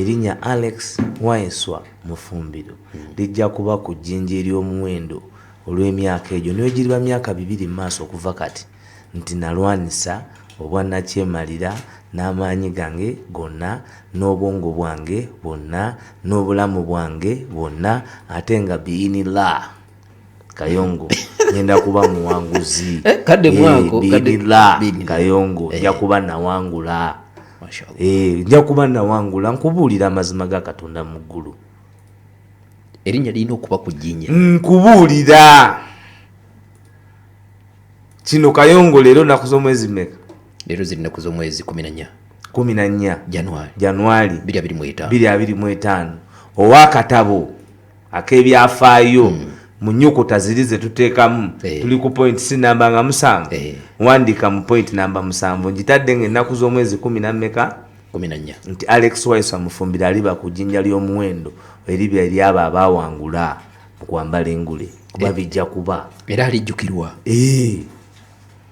Erinnya Alex Waiswa Mufumbiro lijja kuba ku jjinja ery'omuwendo olw'emyaka egyo newegiriba myaka bibiri mu maaso okuva kati nti nalwanyisa obwa nakyemalira n'amaanyi gange gonna n'obwongo bwange bwonna n'obulamu bwange bwonna ate nga bi'inilah. kayongo ngenda kuba muwanguzi eh, kadde mwako kayongo nja kuba nawangula nja kuba nawangula nkubuulira amazima ga katonda mu ggulu erinnya lirina okuba ku jjinya nkubuulira kino kayongo leero naku z'omwezi meka leero ziri naku z'omwezi kumi nanya kumi nanya januari januari biri abiri mu etaano biri abiri mu etaano ow'akatabo akebyafaayo mm. mu nyukuta ziri ze tuteekamu eh. tuli ku point si namba nga musanvu eh. wandiika mu point namba musanvu ngitadde nga ennaku z'omwezi kumi nammeka nti alex wise amufumbira aliba ku jjinja ly'omuwendo eribya eryabo abaawangula mu kwambala engule kuba eh. bijja kuba era alijjukirwa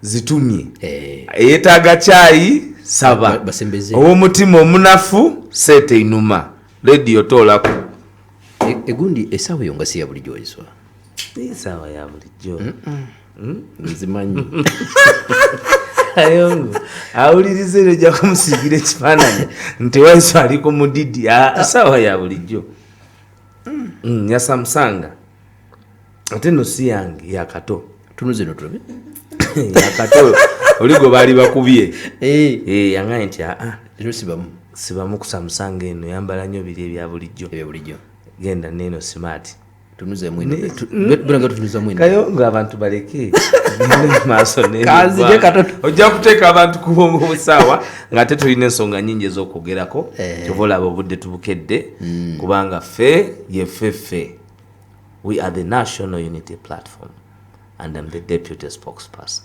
zitumye eh. eyetaaga kyayi saba owomutima omunafu seeta einuma lediyo toolaku e, egundi esaawa eyo nga siya bulijjo eswa esaawa ya bulijjo hmm? nzimanyi ayongo awuliriza ero ojja kumusiigira ekifaananyi nti waiso ali ku mudidi esaawa ya bulijjo hmm, yasamusanga ate no si yange yakato tunuzino tulabe yakato oligo baali bakubye eh. Eh, yangaye nti aa ah, ah. sibamu sibamu kusamusanga eno yambala nnyo biri ebya bulijjo ebyobulijjo genda neeno simaati kayo nga abantu baleke maaso ojja kuteeka abantu kubusaawa nga ate tulina ensonga nyingi ez'okwogerako eh. kyova olaba obudde tubukedde hmm. kubanga ffe yeffe ffe We are the National Unity Platform and I'm the deputy spokesperson.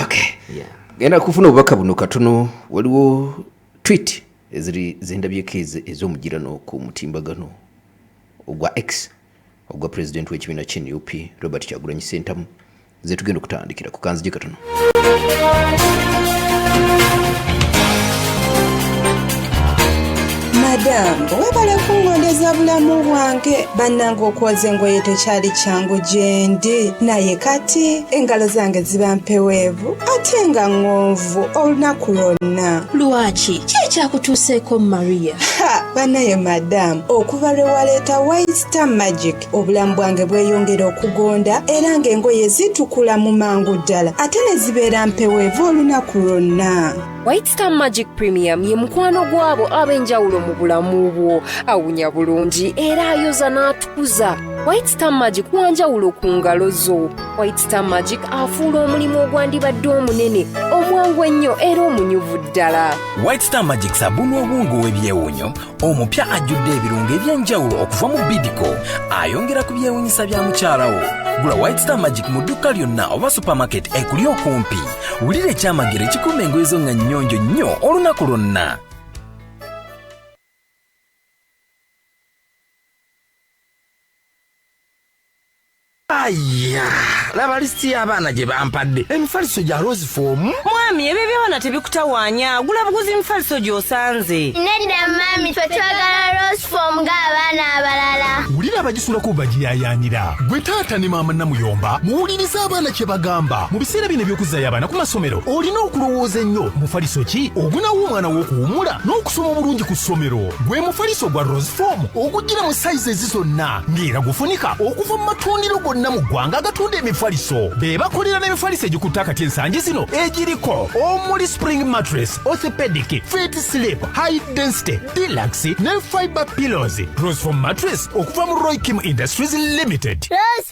Okay. Yeah. Genda kufuna obubaka buno katono waliwo tweet eziri zendabyeko ez'omugirano ku mutimbagano ogwa X ogwa president w'ekibiina kya NUP Robert Kyagulanyi Ssentamu ze tugenda okutandikira ku kanzigi katono madam webale kungondeza bulamu bwange bannanga okwoza engoye tekyali kyangu gyendi naye kati engalo zange ziba mpeweevu ate nga ŋŋonvu olunaku lwonna lwaki ki ekyakutuuseeko maria bannaye madam okuva lwe waleeta waista magic obulamu bwange bweyongera okugonda era ng'engoye zitukula mu mangu ddala ate ne zibeera mpeweeva olunaku lwonna white star magic premium ye mukwano gw'abo ab'enjawulo mu bulamu bwo awunya bulungi era ayoza n'atukuza white star magic wanjawulo ku ngalo zo white star magic afuula omulimu ogwandibadde omunene omwangu ennyo era omunyuvu ddala white star magic sabuni obungu w'ebyewunyo omupya ajjudde ebirungo eby'enjawulo okuva mu bidico ayongera ku byewunyisa bya mukyalawo gula white star magic mu dduuka lyonna oba supermarket ekuli okumpi wulira ekyamagero ekikuuma engoye zo nga nnyonjo nnyo olunaku lwonna Aya, laba lisiti y'abaana gye bampadde emifaliso gya rose fomu mwami ebyo eby'abaana tebikutawaanya gula buguzi emifaliso gy'osanze nedda maami fe twagala rose fom ng'abaana abalala wulira abagisulako bagiyayaanira gwe taata ne maama namuyomba muwuliriza abaana kye bagamba mu biseera bino eby'okuzzayo abaana ku masomero olina okulowooza ennyo mufaliso ki ogunawo omwana w'okuwumula n'okusoma obulungi ku ssomero gwe mufaliso gwa rose fomu ogujjira mu sayizi zonna ng'era gufunika okuva mu matundiro gonna mu ggwanga agatunda emifaliso be bakolera n'emifaliso egikutte akati ensangi zino egiriko omuli spring mattress orthopedic fit slip high density deluxe ne fiber pillows rosfom mattress okuva mu roy kim industries limited Rose,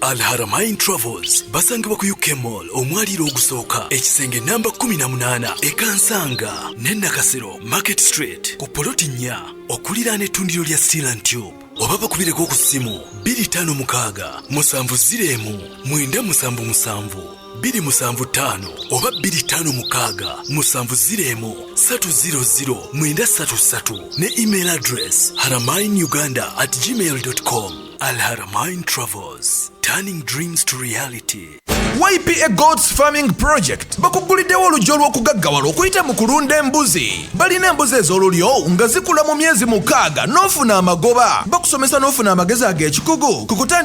Alharamain Travels basangibwa ku UK Mall omwaliiro ogusooka ekisenge namba 18 ekansanga ne Nakasero Market Street ku poloti nnya okuliraana ettundiro lya Steel and Tube oba bakubireko ku ssimu 256 musanvu zireemu mwenda musanvu musanvu biri musanvu ttaano oba biri ttaano mukaaga musanvu zireemu satu ziro ziro mwenda satu satu ne email address haramain uganda at gmail com Alharamain Travels, turning dreams to reality. ypa gods farming project bakuguliddewo oluggi olw'okugaggawala okuyita mu kulunda embuzi balina embuzi ez'olulyo nga zikula mu myezi mukaaga n'ofuna amagoba bakusomesa n'ofuna amagezi ag'ekikugu ku kutandika